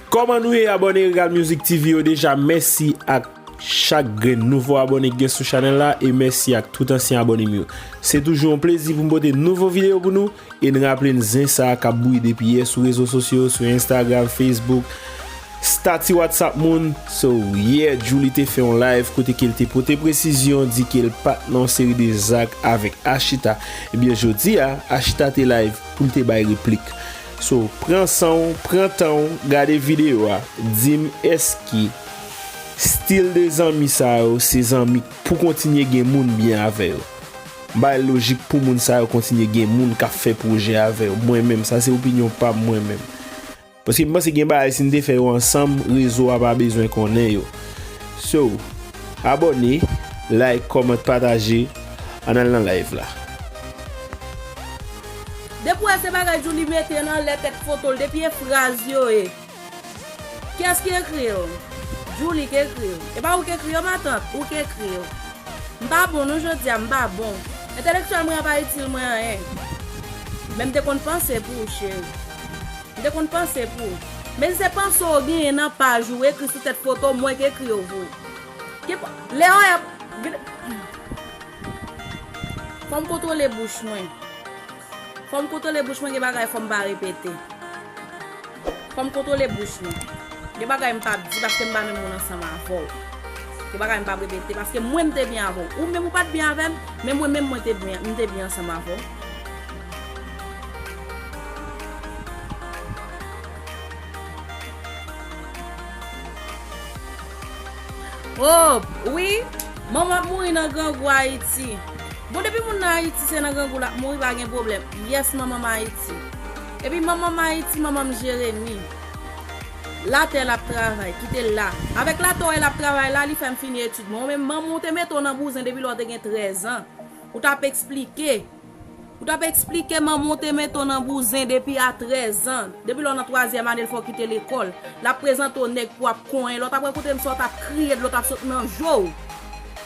Koman nou ye abone regal music TV yo deja mèsi ak chak grenn nouvo abone gen sou chanel la e mèsi ak tout ansyen abone m yo se toujou yon plezi pou m pote nouvo video pou nou. E n raple n zen sa k ap bouyi depi yè sou rezo sosyo, sou Instagram, Facebook, stati WhatsApp moun. So, yè Djouly te fè yon live kote ke l te pote presizyon, di ke l pa t nan yon seri de zak avèk Ashita. Ebyen jodi a, Ashita te live pou l te bay replik. So, pran san w, pran tan w, gade videyo a, di m èske stil de zanmi sa yo se zanmi pou kontinye gen moun byen avè yo? Bay lojik pou moun sa yo kontinye gen moun kap fè pwojè avè yo mwen menm sa se opinyon pam mwen menm paske m panse gen bagay si n te fè yo ansanm rezo a pa bezwen konnen yo so abòne like comment pataje an al nan live la. Depi w wè se bagay Djoulie mete nan lèt èk foto l depi e fraz yo e. Kiyès ki ekri yo? Djoulie ki ekri yo. E pa ou ki ekri yo matant? Ou ki ekri yo. M pa bon non jodi a, m pa bon. Entèlektyèl mwen an pa itil mwen anyen. Men m te konn panse pou ou cheri. M te konn panse pou ou. Men si se panse ou genyen nan paj ou ekri sou tèt poto, mwen ki ekri yo pou ou. Ki pa, lè ou ap, vin, fò m kontwole bouch mwen. Fòm kontwole bouch mwen gen bagay fòm pa repete fòm kontwole bouch mwen gen bagay m pap di paske m pa menm moun ansanm avèw gen bagay m pap repete paske mwen m te byen avèw ou menm ou pat byen avèm men mwen menm mwen te byen m te byen ansanm avèw Oohh wi Manman ap mouri nan grangou ayiti Bon depi moun nan ayiti se nan grangou lap mouri pa gen problem yes Manman ayiti Epi Manman ayiti Manman jeremi La tè lap travay kitel la Avek la tè ou wè lap travay la li fèm fini etid mwen ou menm Manman ou te mete w nan bouzen depi lè ou te gen 13 ans ou tap esplike Ou tap esplike manman w te mete w nan bouzen depi a 13 ans, depi lè w nan twazyèm ane l fè w kite lekòl, lap prezante w nèg pou ap konyen lè w tap rakonte m sa w tap kriye dlo tap sot nan je w,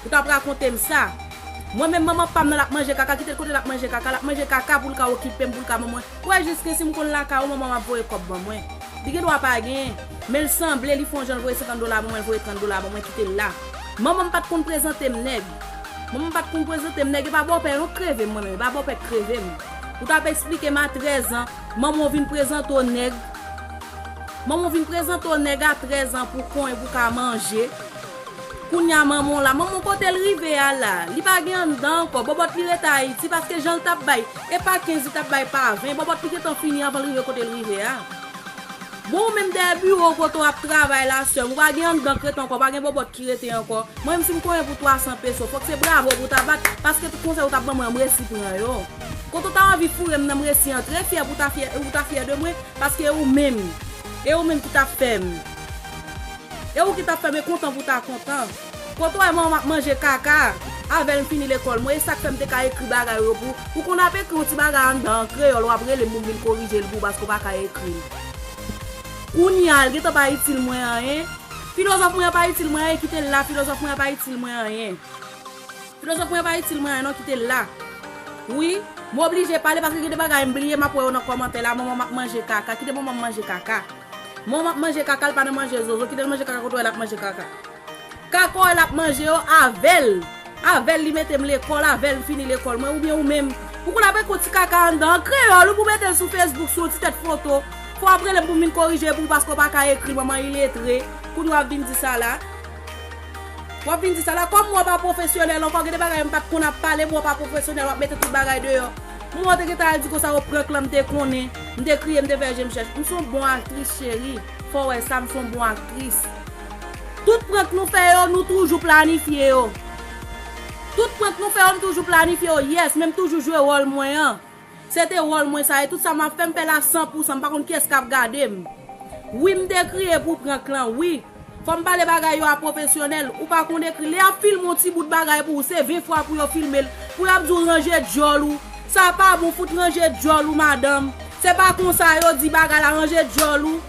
ou tap rakonte m sa. Mwen menm manman pam nan lap manje kaka kite l kote lap manje kaka, lap manje kaka pou l ka okipe m pou l ka ban mwen, ou wè jiske si m konn lakay ou manman w ap voye kòb ban mwen, li gen dwa pa gen, men l sanble li fon jan l voye 50 dola ban mwen l voye 30 dola ban mwen kite l la. Manman m pat konn prezante m nèg. Manman m pat konn prezante m nèg epa bòpè non k kreve m mwen menm epa bòpè k kreve m ou tap esplike m a 13 ans manman w vin prezante w nèg manman w vin prezante w nèg a 13 ans pou konnen pou ka manje kounya manman w la manman w kote l rive a la li pa gen anndan ankò bòbòt li rete ayiti paske jan l tap bay epa 15 li tap bay pa 20 bòbòt li gentan fini avan l rive kote l rive a. Bon ou menm dèyè biwo ou kote w ap travay la sèm, ou pa gen anndan krèt ankò, pa gen bòbòt ki rete ankò. Mwen menm si m konyen pou 300 peso, fòk se bravo pou w ta bat, paske tout konsèy ou t ap ban mwen m resi pran yo. Kote w ta anvi foure m nan m resi antre, fyè pou w ta fyè, ou ta fyè de mwen, paske e ou menm, e ou menm ki t ap fè m, e ou ki t ap fè m e kontan pou w ta kontan. Kote w wè manman m ap manje kaka avè l m fini lekòl mwen e sa k fè m te ka ekri bagay yo pou ou konn ap ekri yon ti bagay anndan an kreyòl w ap rele m pou m vin korije l pou ou paske ou pa ka ekri l kounye a l gen tan pa itil mwen anyen filozòf mwen an pa itil mwen anyen kite l la filozòf mwen an pa itil mwen anyen filozòf mwen an pa itil mwen anyen non kite l la wi m oblije pale paske gen de bagay m bliye m ap wè yo nan kòmantè la manman m ap manje kaka kite manman m manje kaka. Mom ap manje kaka l pa nan manje zozo kitel manje kaka kote w wè lap manje kaka kaka w wè lap manje yo avèl avèl li metem lekòl avèl m fini lekòl mwen oubyen ou menm pou konn ap ekri yon ti kaka anndan an kreyòl ou pou metel sou fesbouk sou yon ti tèt foto fò wap relem pou m vin korije pou ou paske w paka ekri manman iletre kounye wap vin di sa la wap vin di sa la kòm ou an pa pwofesyonèl ankò gen de bagay yo m pat konn ap pale pou ou an pa pwofesyonèl wap mete tout bagay deyò. Kouman ou te gentan al di konsa ou prank lan m te konnen, m te kriye m te fè je m chèch, m son bon aktris cheri, fò wè sa m son bon aktris. Tout prank nou fè yo nou toujou planifye yo. Tout prank nou fè yo m toujou planifye yo yes men m toujou jwe wòl mwen an. Se te wòl mwen sa e tout sa map fè m fè la san pou san m pa konn kiyès kap gade m. Wi m te kriye pou prank lan wi. Fòm pale bagay yo a profesyonèl, ou pa konn ekri, lè yap filme yon ti bout bagay pou ou se 20 fwa pou yo filmel, pou yap di ou ranje dyòl ou, sa pa bon fout ranje dyòl ou madanm, se pa konsa yo di bagay la ranje dyòl ou,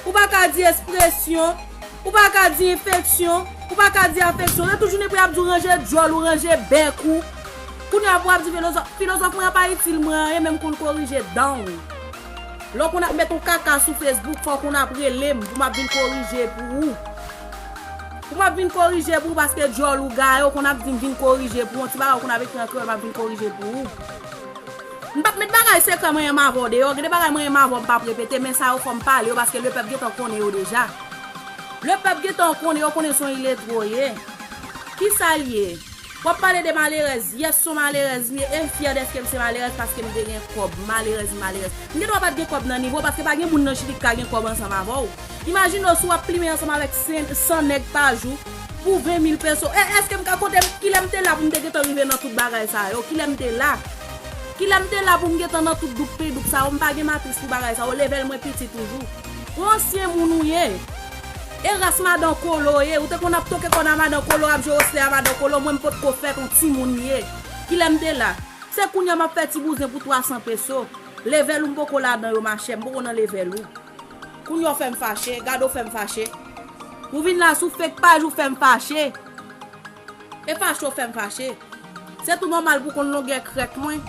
ou pa ka di espresyon, ou pa ka di enfeksyon, ou pa ka di afeksyon, se tou jounen pou yap di ou ranje dyòl ou, ranje bèk ou, kounya pou wap di filozòf, filozòf mwen an pa itil mwen anyen menm konn korije danw. Lè w konn ap met yon kaka sou Facebook fò w konn ap rele m pou m ap vin korije pou ou. Pou m ap vin korije pou ou paske djòl ou gaye w konn ap di m vin korije pou yon ti bagay w konn ap ekri an kreyòl m ap vin korije pou ou. M p ap met bagay sekrè mwen yenm avè w deyò, gen de bagay mwen yenm avè w m p ap repete men sa yo fò m pale yo paske lepèp gen tan konnen yo deja. Lepèp gen tan konnen yo konnen son iletwe w ye. Kisa l ye? Wap pale de malerèz, yes son malerèz m ye em fyè deske m se malerèz paske m te gen kòb, malerèz m malerèz. M gen dwa pat gen kòb nan nivo w paske pa gen moun nan chili k ka gen kòb ansanm avè w. Imajine w si wap plimen ansanm avèk 100 nèg pa jou pou 20 mil peso e eske m ka konte m kilè m te la pou m te gentan rive nan tout bagay sa yo kilè m te la kilè m te la pou m gentan nan tout doukpedoup sa yo m pa gen matris pou bagay sa yo level mwen piti toujou. Ou ansyen moun ou ye. E ras madan kolo ye ou te konn ap toke kòn a madan kolo ap jwe osle a madan kolo mwen m potko fèt on timoun ye kilè m te la se kounya map fè ti bouzen pou 300 peso level ou m poko ladan yo machè m poko nan level ou kounya w fèm fache gade w fèm fache ou vin la sou fake paj ou fèm fache. E fache w fè m fache. Se tou nòmal pou konn longè krèk mwen.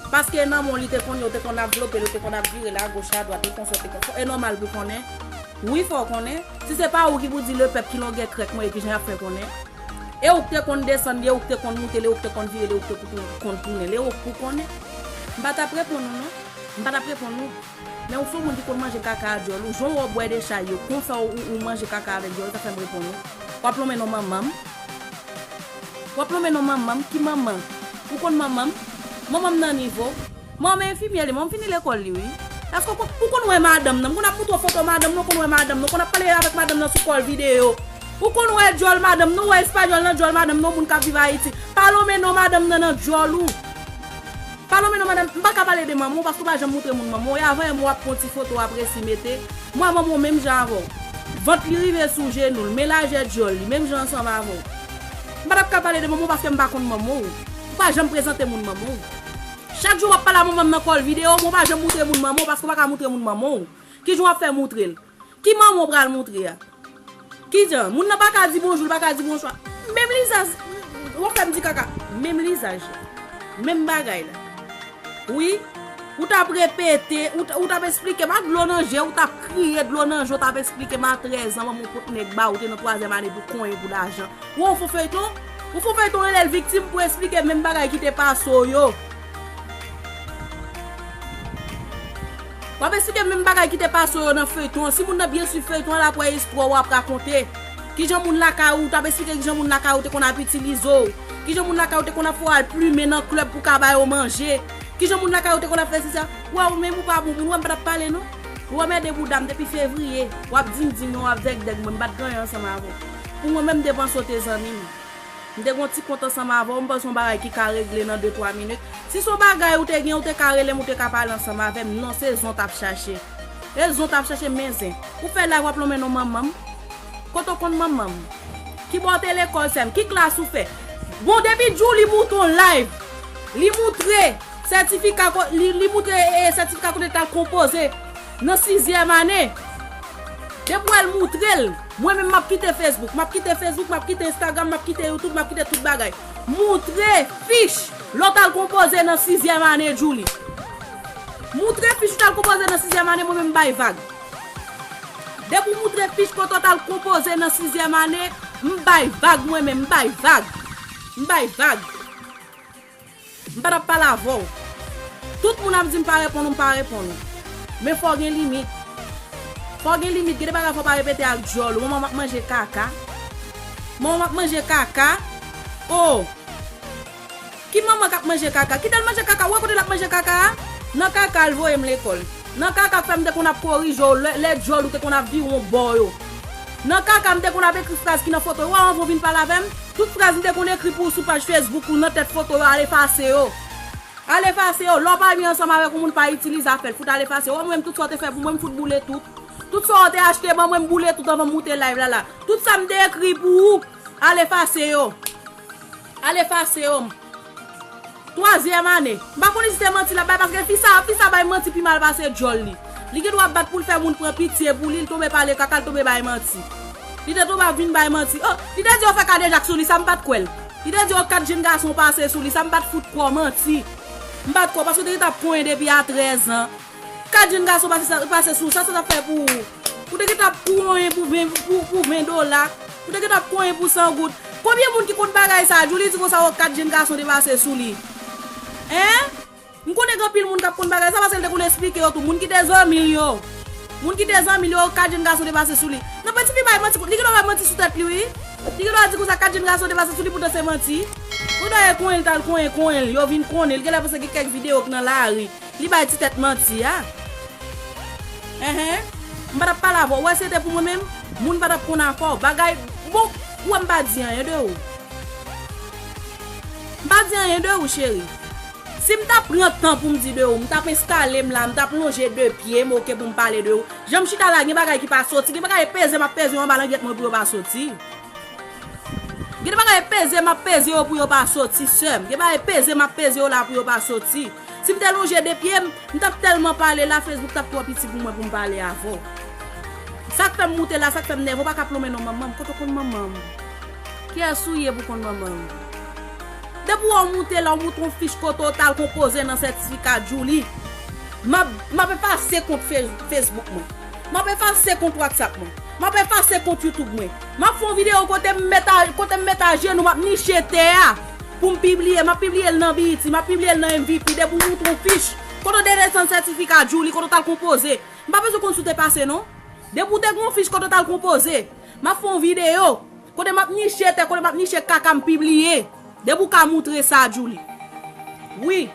Paske e nan men w li te konn ye, w te konn ap vlope l, w te konn ap vire l agoch adwat, e konsa, e konsa. E nòmal pou konnen. Wi, fò w konnen. Si se pa ou ki pou di lepèp ki longè krèk mwen e kijan y ap fè konnen. E ou k te konn desann li, e ou k te konn moute l, e ou k te konn vire l, e ou k te konn tounen l, e ou k pou konnen. M pa t ap reponn ou non. M pa t ap reponn ou. Lèw son moun ki konn manje kaka a dyòl ou jan wè w bwè de chay yo konsa ou manje kaka avèk dyòl ta fèm reponn ou wap lonmen non manmanm wap lonmen non manmanm ki manman ou konn manmanm manmanm nan nivo manmanm enfimyè li manmanm fini lekòl li wi èske ou konn wè madanm nan m konn ap moutre w foto madanm nan ou konn wè madanm nan ou konn ap pale avèk madanm nan sou kòl videyo ou konn wè dyòl madanm nan ou wè espagnòl nan dyòl madanm nan ou moun kap viv ayiti pa lonmen non madanm nan nan dyòl ou. Palomeno, Madam, m pa ka pale de manman w paske w pa janm moutre moun manman w ye. Avan yè mwa w ap pran w ti foto w ap resi mete. Mwa manman w menm jan avè w. Vant li rive sou jenou l, men lajè dyòl li, menm jan ansanm avè w. M pa t ap ka pale de manman w paske m pa konn manman w. Ou pa janm prezante moun manman w. Chak jou w ap pale a manman m nan kòl videyo, men w pa janm moutre moun manman w paske w pa ka moutre moun manman w. Kijan w ap fè moutre l? Ki manman w pral moutre a? Kijan? Moun nan pa ka di bonjou, li pa ka di bonswa. Menm lizaj, wap fè m di kaka. Menm lizaj la. Menm bagay la. Wi. Ou t ap repete, ou t ap esplike m ak dlo nan je, ou t ap kriye dlo nan je, ou t ap esplike m a 13 an manman w pot nèg ba ou, ou te nan twazyèm ane pou konyen, pou lajan. Ou wè yon fo feyton? Yon fo feyton rele l viktim pou esplike menm bagay ki te pase w yo. Wap esplike menm bagay ki te pase w yo nan feyton an si moun nan byen swiv feyton an lap wè istwa wap rakonte kijan moun lakay ou tap esplike kijan moun lakay ou te konn ap itilize w kijan moun lakay ou te konn ap fè w al plumen nan club pou ka ba yo manje kijan moun lakay ou te konn ap fè si sa wè w menm ou pa bon moun wè m patap pale non ou wè m ede bouda m depi fevrier wap dindin ou wap dègdèg mwen m pat ganyen ansanm avè w pou mwen menm depanse w te zanmi m. M te gen yon ti kont ansanm avè w, m panse se yon bagay ki ka regle nan de twa minit. Si se yon bagay ou te gen, ou te ka rele m, ou te ka pale ansanm avè m. Non, se zen w t ap chache. E zen w t ap chache, men zen. Ou fè la a, w ap lonmen non manman m. Kote w konn manman m? Ki bò w te lekòl, sè m? Ki klas ou fè? Bon, depi Djoulie Mouton live, li moutre sètifika, li moutre sètifika kote l t al konpoze. Nan sizyèm ane. Depi wèl moutrel. Mwen menm map kite Facebook. Map kite Facebook map kite Instagram map kite YouTube map kite tout bagay. Moutre fich. Lè w tal konpoze nan sizyèm ane Djouly. Moutre fich ou tal konpoze nan sizyèm ane mwen menm m bay vag. Depi w moutre fich kote w tal konpoze nan sizyèm ane m bay vag mwen menm m bay vag. M bay vag. M pa tap pale avè w. Tout moun ap di m pa reponn ou m pa reponn ou. Men fò w gen limit. Fò w gen limit. Gen de bagay fò w pa repete ak dyòl ou. Manman m ap manje kaka. Manman m ap manje kaka. Oh! Ki manman k ap manje kaka? Kite l manje kaka. Ou wè kote l ap manje kaka a? Nan kaka a l voye m lekòl. Nan kaka k fè m te konn ap korije w lè lè djòl ou te konn ap vire w bò yo. Nan kaka m te konn ap ekri fraz ki nan foto yo anvan w vin pale avè m. Tout fraz m te konn ekri pou w sou paj Facebook ou nan tèt foto yo al efase yo. Al efase yo. Lè w pa vin ansanm avèk yon moun pa itilize afè l. Fout al efase yo. O mwen m tout sa w te fè pou mwen m fout boule tout. Tout sa w te achte ban mwen m boule tout anvan m moute live la la. Tout sa m te ekri pou ou al efase yo. Al efase yo m. Twazyèm ane. M pa konnen si se manti l ap bay paske fi sa fi sa bay manti pi mal pase djòl li. Li gen dwa bat pou l fè moun pran pitye pou li, li tonbe pale kaka, li tonbe bay manti. Li te tonbe ap vin bay manti. Oh! Li te di yo fè kadejak sou li sa m pa t kwè l. Li te di yo 4 jenn gason pase sou li sa m pa t fout kwè w manti. M pa t kwè w paske w te gentan ap konyen depi a 13 an. Kat jenn gason pase sou ou, sa sa t ap fè pou ou? Ou te gentan ap konyen pou 20 dola, ou te gentan ap konyen pou 100 goud. Konbyen moun ki konn bagay sa a? Djoulie di konsa, o kat jenn gason te pase sou li. Hein? M konnen gen anpil moun k ap konn bagay sa a paske l te konn esplike yo tou. Moun ki te zanmi l yo. Moun ki te zanmi l yo, o kat jenn gason te pase sou li. Non pati fi bay manti, li gen dwa bay manti sou tèt li wi. Li gen dwa di konsa, kat jenn gason te pase sou li poutan se manti. Ou ta wè konyen l t al konyen konyen l, yo vin konnen l. Gen lè paske gen kèk videyo k nan lari. Li bay ti tèt manti a. Enhen M pa tap pale avè w, ou wè si se te pou mwen menm, moun pa tap konn avè w. Bagay bon, ou wè m pa di anyen de ou. M pa di anyen de ou cheri. Si m ta pran tan pou m di de ou, m tap enstale m la, m tap lonje de pye m ok pou m pale de ou. Jan m chita la gen bagay ki pa soti, gen bagay peze m ap peze yo anba langyèt mwen pou yo pa soti. Gen de bagay peze m ap peze yo pou yo pa soti sè m, gen bagay peze m ap peze yo la pou yo pa soti. Si m te lonje 2 pye m, m tap tèlman pale la, Facebook tap twò piti pou mwen pou m pale avè w. Sa k fè m moute la, sa k fè m nève, ou pa ka plonmen non manman m, kote w konn manman m? Kiyès ou ye pou w konn manman m? Depi wè w moute la, w moutre yon fich kote w t al konpoze nan sètifika Djouly. M ap, m ap efase kont Facebook mwen. M ap efase kont WhatsApp mwen. M ap efase kont YouTube mwen. M ap fè yon videyo kote m met a, kote m met ajenou, m ap niche tè a. Poum pibliye, map pibliyel nan BET, map pibliyel nan MVP, depi ou moutre yon fich, kote ou te desann sètifika Djouly, kote ou tal konpoze. M pa bezwen konn si ou te pase non. Depi ou te gen yon fich kote ou tal konpoze. Map fè yon videyo, kote map niche tè, kote map niche kaka m pibliye. Depi ou ka moutre sa Djouly. Wi.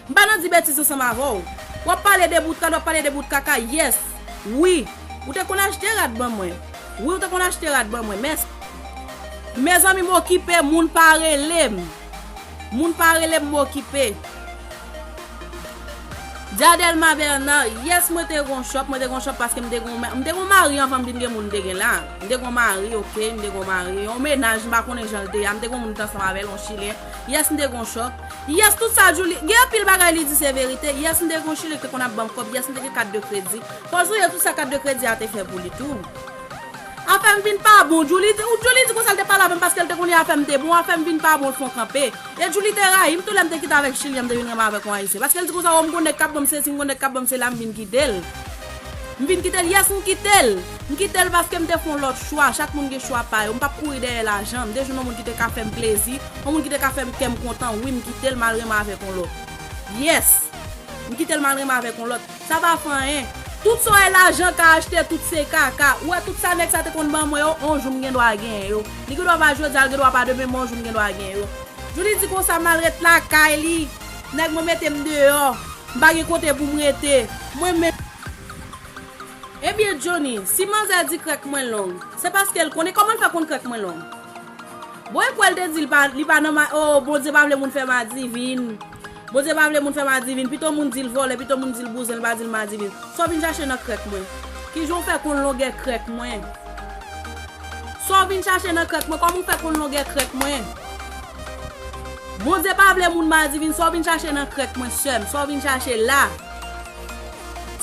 M pa nan di betiz ansanm avè w. W ap pale de bout rad, w ap pale de bout kaka, yes. Wi, ou te konn achte rad ban mwen. Wi, ou te konn achte rad ban mwen. Mès. Mezanmi m okipe, moun pa rele m. Moun pa rele m, m okipe. Diadelma Bernard, yes mwen te gen yon shop, mwen te gen yon shop paske m te gen yon mari, m te gen yon mari anvan m vin gen moun m te gen la. M te gen yon mari, ok, m te gen yon mari, yon mennaj, m pa konnen jan l te ye a. M te gen yon moun m te ansanm avè l, yon chilyen. Yes m te gon chòk Yes tout sa Djouly gen anpil bagay li di se verite Yes m te gon chili ki te konn ap banm kòb Yes m te gen kat de kredi Pòz ou ye tout sa kat de kredi a te fè pou li tou Afè m vin pa bon Djouly di ou Djouly di konsa l te pale avè m paske l te konnen afè m te bon Afè m vin pa bon l fon kanpe E Djouly te rayi m tou lè m te kite avèk chilyen m te vin renmen avèk yon ayisyen paske l di konsa o m gon nèg k ap ban m sesi m gon nèg k ap ban m sela m vin kite l M vin kite l Yes m kite l. M kite l paske m te fè yon lòt chwa. Chak moun gen chwa pa yo. M pap kouri dèyè lajan. M te jwenn yon moun ki te ka fè m plezi. Yon moun ki te ka fè m kè m kontan. Wi, m kite l, m al renmen avèk yon lòt. Yes! M kite l, m al renmen avèk yon lòt. Sa pa fè anyen. Tout sa w wè lajan ka achte, tout se kaka. Ou wè tout sa nèg sa te konn ban mwen yo, yon jou m gen dwa genyen yo. Li gen dwa pa jodi a, li gen dwa pa demen, men yon jou m gen dwa genyen yo. Djoulie di konsa, m al ret lakay li. Nèg mwen mete m deyò. M pa gen kote pou m rete. Mwen menm. Ebyen Johnny, si manzè di krèk mwen long, se paske l konnen kòman l fè konn krèk mwen long? Bon e kwè l te di l pa li pa nan ma oo Bondye pa vle moun fè madivin Bondye pa vle moun fè madivin pito moun di l vòlè pito moun di l bouzen l pa di l madivin sa w vin chache nan krèk mwen? Ki jan w fè konn longè krèk mwen? Sa w vin chache nan krèk mwen kòman w fè konn longè krèk mwen? Bondye pa vle moun madivin sa w vin chache nan krèk mwen sè m sa w vin chache la?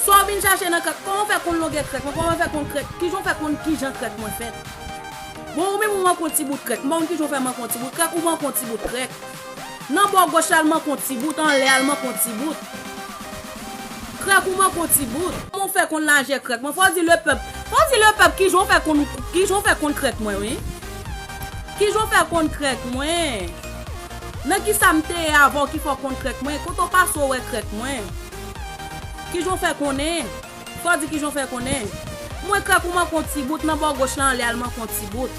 Sa w vin chache nan krèk? Kòman w fè konn longè krèk lan? Kòman w fè konn krèk? Kijan w fè konn kijan krèk mwen fèt? Bon ou menm ou manke yon ti bout krèk. M ba w konn kijan w fè manke yon ti bout krèk, ou manke yon ti bout krèk. Nan bò goch la l manke yon ti bout, anlè a l manke yon ti bout. Krèk ou manke yon ti bout. Kòman w fè konn lajè krèk mwen? Fò w di lepèp, fò w di lepèp kijan w fè konn kijan w fè konn krèk mwen wi. Kijan w fè konn krèk mwen? Nan kisa m te ye avan w ki fè w konn krèk mwen? Kote w pase w wè krèk mwen? Kijan w fè konnen? Fò w di kijan w fè konnen. Mwen krèk ou manke yon ti bout nan bò goch lan ale al manke yon ti bout.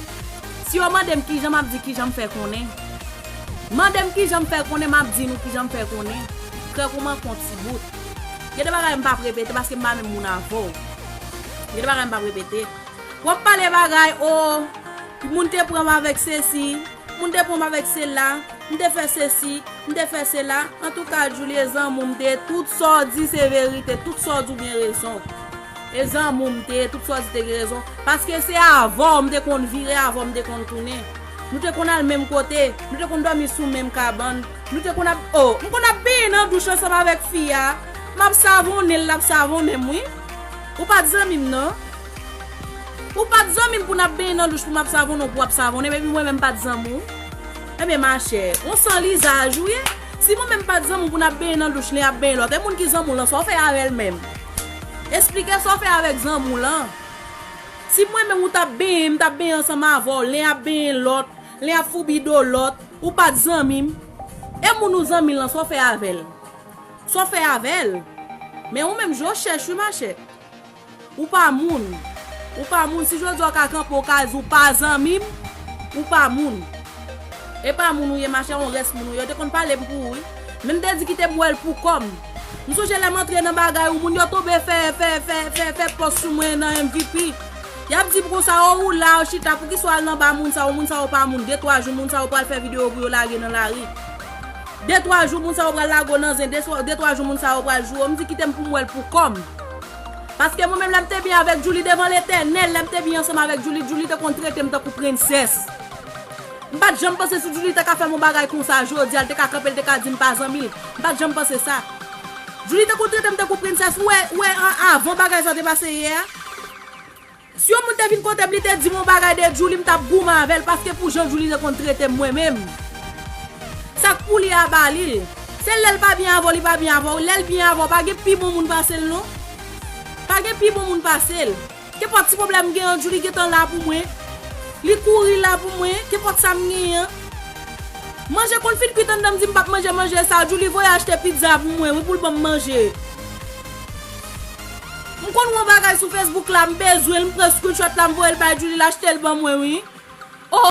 Si yo mande m kijan m ap di kijan m fè konnen. Mande m kijan m fè konnen m ap di nou kijan m fè konnen. Krèk ou manke yon ti bout. Gen de bagay m p ap repete paske m pa menm moun avè w. Gen de bagay m p ap repete. Wap pale bagay oo, moun te pranm avèk sesi, moun te pranm avèk sela, m te fè sesi, m te fè sela, antouka Julie zanmou m te ye tout sa w di se verite, tout sa w di w gen rezon. E zanmou m te ye, tout sa w di te gen rezon, paske se avè w m te konn vire, avè w m te konn tounen. Nou te konn al menm kote, nou te konn dòmi sou menm kabann, nou te konn ap oo, m konn ap benyen nan douch ansanm avèk fi a, map savonnen l lap savonnen m wi. Ou pat zanmi m nan. Ou pat zanmi m pou n ap benyen nan douch pou m ap savonnen w pou w ap savonnen m epi mwen menm m pat zanmi w. Ebyen machè, on san lizaj ou ye. Si mwen menm m pat zanmi w pou n ap benyen nan douch li ap benyen lòt, e moun ki zanmi w lan sa w fè avè l menm? Esplike sa w fè avèk zanmi w lan. Si mwen menm ou t ap benyen, m t ap benyen ansanm avè w, len ap benyen lòt, len ap foubi do lòt, ou pat zanmi m, e moun ou zanmi l lan sa w fè avè l? Sa w fè avè l? Men ou menm je w chèch wi machè. Ou pa moun. Ou pa moun. Si jodi a w ka kanpe w ka di w pa zanmi m, ou pa moun. E pa moun ou ye machè, on rès moun ou ye. Yo te konn pale m pou ou wi. Men m te di kite m bwè l pou kò m. M sonje lè m antre nan bagay ou moun yo tonbe fè fè fè fè fè pòs sou mwen nan MVP. Y ap di m konsa o ou la ou chita poukisa w al nan ba moun sa yo, moun sa yo pa moun. Detwa jou moun sa yo pral fè videyo pou yo lage nan lari. De twa jou moun sa yo pral lago nan zen de twa jou moun sa yo pral joure m di kite m pou m wè l pou kò m paske mwen menm lè m te byen avèk Djoulie devan letènèl lè m te byen ansanm avèk Djoulie Djoulie te konn trete m tankou prensès m pat janm panse si Djoulie te ka fè m yon bagay konsa jodi a l te ka kanpe l te ka di m pa zanmi l m pat janm panse sa Djoulie te konn trete m tankou prensès ou wè ou wè avan bagay sa te pase yè a. Si yon moun te vin kotem li te dim yon bagay de Djouly m tap goumen avèl paske pou jan Djouly te konn tretem mwen menm sak pou li a ba lil se lèl pa byen avèw li pa byen avèw lèl byen avèw pa gen pi bon moun pasel non pa gen pi bon moun pasel kenpòt ti problèm m gen an Djouly gentan la pou mwen li kouri la pou mwen kenpòt sam gen an manje konn fin kwit anndanm dim pap manje manje sa Djouly voye achte pizza pou mwen wi poul banm manje. M konn wè yon bagay sou Facebook la m bezwen l m pran screenshot la m voye l bay Djoulie l achte l ban mwen wi oh.